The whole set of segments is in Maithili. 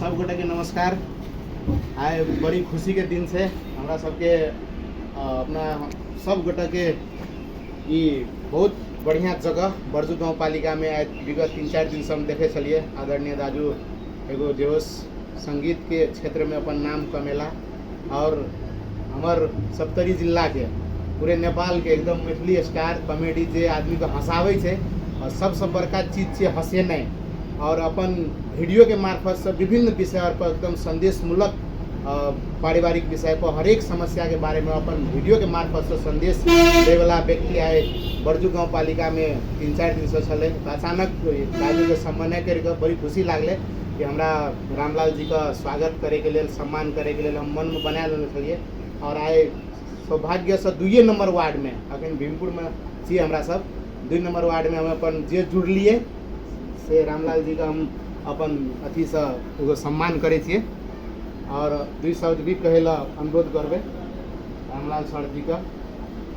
सब गोटे के नमस्कार आइ बड़ी खुशी के दिन छै हमरा सबके अ, अपना सब गोटे के ई बहुत बढ़िया जगह बरजू गांव पालिका में आइ विगत तीन चार दिन से हम देखे छलिए आदरणीय दाजू एगो जे हो संगीत के क्षेत्र में अपन नाम कमेला आओर हमर सप्तरी जिलाके पूरे नेपालके एकदम मैथिली स्टार कॉमेडी जे आदमीके हँसाबै छै आओर सबसँ बड़का चीज छियै हँसेनाइ आओर अपन वीडियोके मार्फतसँ विभिन्न विषय आओर पर एकदम सन्देशमूलक पारिवारिक विषय पर हरेक समस्याके बारेमे अपन वीडियोके मार्फतसँ सन्देश दै बला व्यक्ति आइ बरजू गाँव पालिकामे तीन चारि दिनसँ छलै अचानक काजके सम्बन्ध नहि करिके बड़ी खुशी लागलै कि हमरा रामलाल जीके स्वागत करैके लेल सम्मान करैके लेल हम मनमे बना लेने छलियै आओर आइ सौभाग्यसँ दुइए नम्बर वार्डमे एखन भीमपुरमे छी हमरासभ दुइ नम्बर वार्डमे हम अपन जे जुड़लियै से रामलाल जीके हम अपन अथीसँ एगो सम्मान करै छियै आओर दुइ शब्द भी कहय लेल अनुरोध करबै रामलाल सर जीके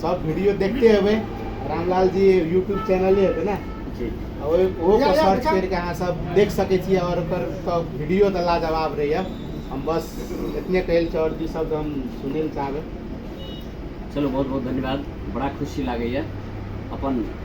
सब वीडियो देखते हुए रामलाल जी यूट्यूब चैनल है ना जी और वो को सर्च करके अहाँ सब देख सके छी और ओकर सब वीडियो तो लाजवाब रही है हम बस इतने कहल और दू शब्द हम सुने ले चाहबे चलो बहुत बहुत धन्यवाद बड़ा खुशी लगे अपन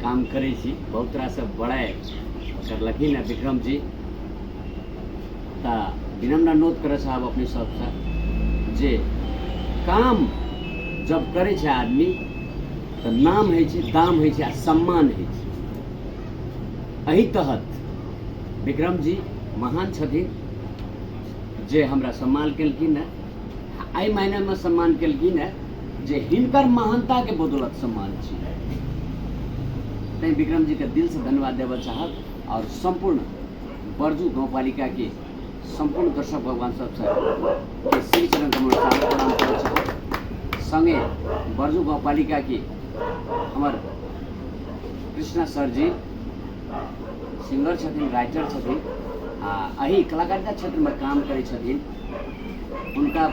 काम करै छी बहुत रास बड़ाइ करलखिन हँ विक्रम जी तऽ विनम्र अनुरोध करऽ चाहब अपने सबसँ जे काम जब करै छै आदमी तऽ नाम होइ छै दाम होइ छै आ सम्मान होइ छै एहि तहत विक्रम जी महान छथिन जे हमरा सम्मान केलखिन हँ आ एहि मायनामे सम्मान केलखिन है जे हिनकर महानता के बदौलत सम्मान छी तैं विक्रम जी के दिल से धन्यवाद देव चाहब और संपूर्ण बरजू गाँव पालिका के संपूर्ण दर्शक भगवान सब के श्री चरण कमल प्रणाम कर चाहब संगे बरजू गाँव पालिका के हमर कृष्णा सर जी सिंगर छथिन राइटर छथिन आ एही कलाकारिता क्षेत्रमे काम करै छथिन हुनका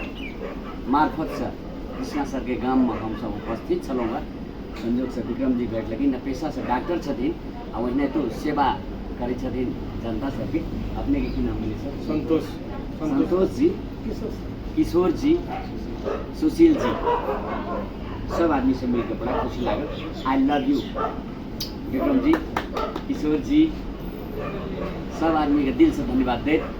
मार्फतसँ कृष्णा सरके गाममे हमसभ उपस्थित छलहुँ हँ संयोगसँ विक्रमजी भेट लेकिन पेशासँ डॉक्टर छथिन आ ओहिने तो सेवा करै छथिन जनता सबके अपने की नाम भेलै सर संतोष संतोष जी किशोर जी सुशील जी सब आदमी से मिलकर बड़ा खुशी लागल I love you Vikram ji Kishore ji सब आदमी के दिल से धन्यवाद देत